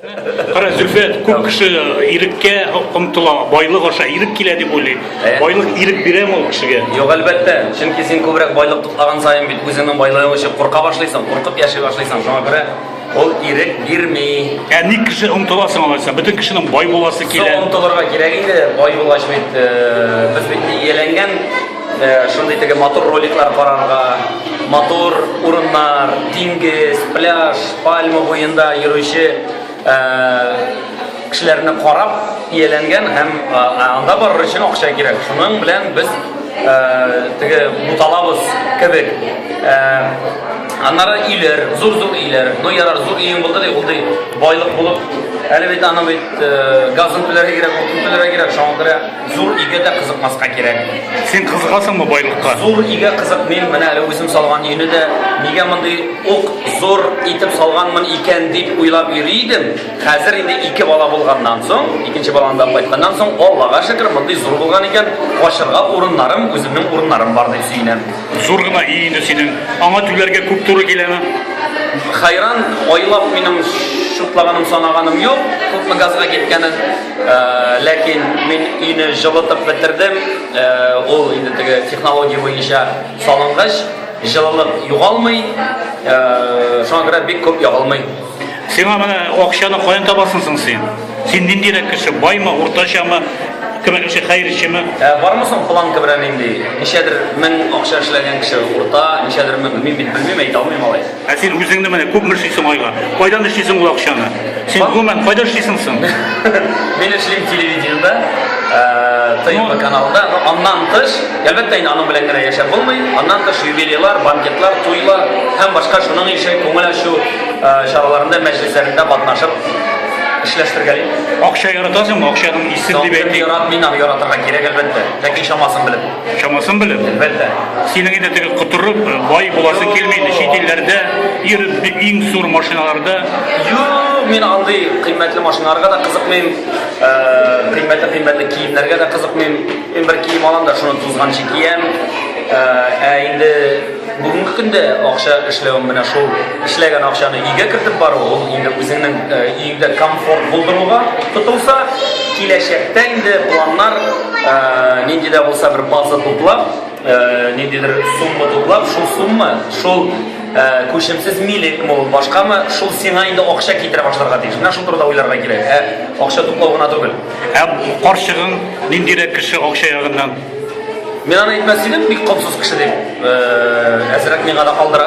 Кара Зөлфә күп кеше иреккә омтыла, байлык аша ирек килә дип уйлый. Ә? Байлык ирек бирәме ул кешегә? Юк, әлбәттә. Чөнки син күбрәк байлык туплаган саен бит үзеңнең байлыгың өчен курка башлыйсың, куркып яши башлыйсың. Шуңа күрә ул ирек бирми. Ә ник кеше омтыла соң алайса? Бөтен кешенең бай буласы Су килә. омтылырга кирәк инде, бай булгач бит, э, без бит ияләнгән Э, шундый теге матур роликлар карарга, матур урыннар, диңгез, пляж, пальма буенда йөрүче э, кешеләрне карап ияләнгән һәм э, анда барыр өчен акча кирәк. Шуның белән без теге буталабыз кебек. Аннары өйләр, зур-зур өйләр. Ну ярар, зур өең булды ди, ул ди байлык булып, әле бит аны бит газын түләргә кирәк, утын түләргә кирәк, шуңа күрә Зур игә дә кызыкмаска кирәк. Син кызыгасыңмы байлыкка? Зур игә кызыкмыйм, менә әле үзем салган өйне дә нигә мондый ук зур итеп салганмын икән дип уйлап йөри идем. Хәзер инде ике бала булганнан соң, икенче баланы да кайтканнан соң, Аллага шөкер, мондый зур булган икән, качырга урыннарым, үземнең урыннарым бар дип сөенәм. Зур гына өй инде синең. Аңа түләргә күп туры киләме? Хәйран, айлап минем шутлаганым, санаганым юк, күпме газга киткәнен. Ләкин мин өйне җылытып бетердем. Ул инде теге технология буенча салынгыч, җылылык югалмый. Шуңа күрә бик күп ягылмый. Сиңа менә акчаны каян табасың соң син? Син ниндирәк кеше? Баймы, уртачамы? Кемәкче хәерчеме? Ә бармы соң планка белән инде? Ничәдер мең акча эшләгән кеше урта, ничәдер мең, мин бит белмим, әйтә алмыйм алай. Ә син үзеңне менә күпме эшлисең айга? Кайдан эшлисең ул акчаны? Син гомумән кайда эшлисең соң? Мин эшлим телевидениедә, ТМ каналында. Но аннан тыш, әлбәттә инде аның белән генә яшәп булмый. Аннан тыш юбилейлар, банкетлар, туйлар һәм башка шуның ише күңел ачу чараларында, мәҗлесләрендә катнашып эшләштерергә дип. Акча яратасыңмы? Акчаның исе дип әйтик. Яратмыйм, яратырга кирәк әлбәттә. Ләкин чамасын белеп. Чамасын белеп, әлбәттә. Синең инде теге котырып, бай буласы килми инде чит илләрдә, ир иң зур машиналарда. Юк, мин андый кыйммәтле машиналарга да кызыкмыйм, кыйммәтле кыйммәтле киемнәргә дә кызыкмыйм. Мин бер кием алам да, шуны тузганчы киям. Ә инде Бүгенге көндә акча эшләвем менә шул эшләгән акчаны өйгә кертеп бару, ул инде үзеңнең өеңдә э, комфорт булдыруга тотылса, киләчәктә инде планнар э, нинди дә булса бер база туплап, э, ниндидер сумма туплап, шул сумма, шул күчемсез милек мул башкамы шул сиңа инде акча китерә башларга тиеш менә шул турыда уйларга кирәк ә акча туплау гына түгел ә карчыгың ниндирәк кеше акча ягыннан Мин аны әйтмәс идем, бик комсыз кеше дип. Э, әзрәк миңа да калдыра.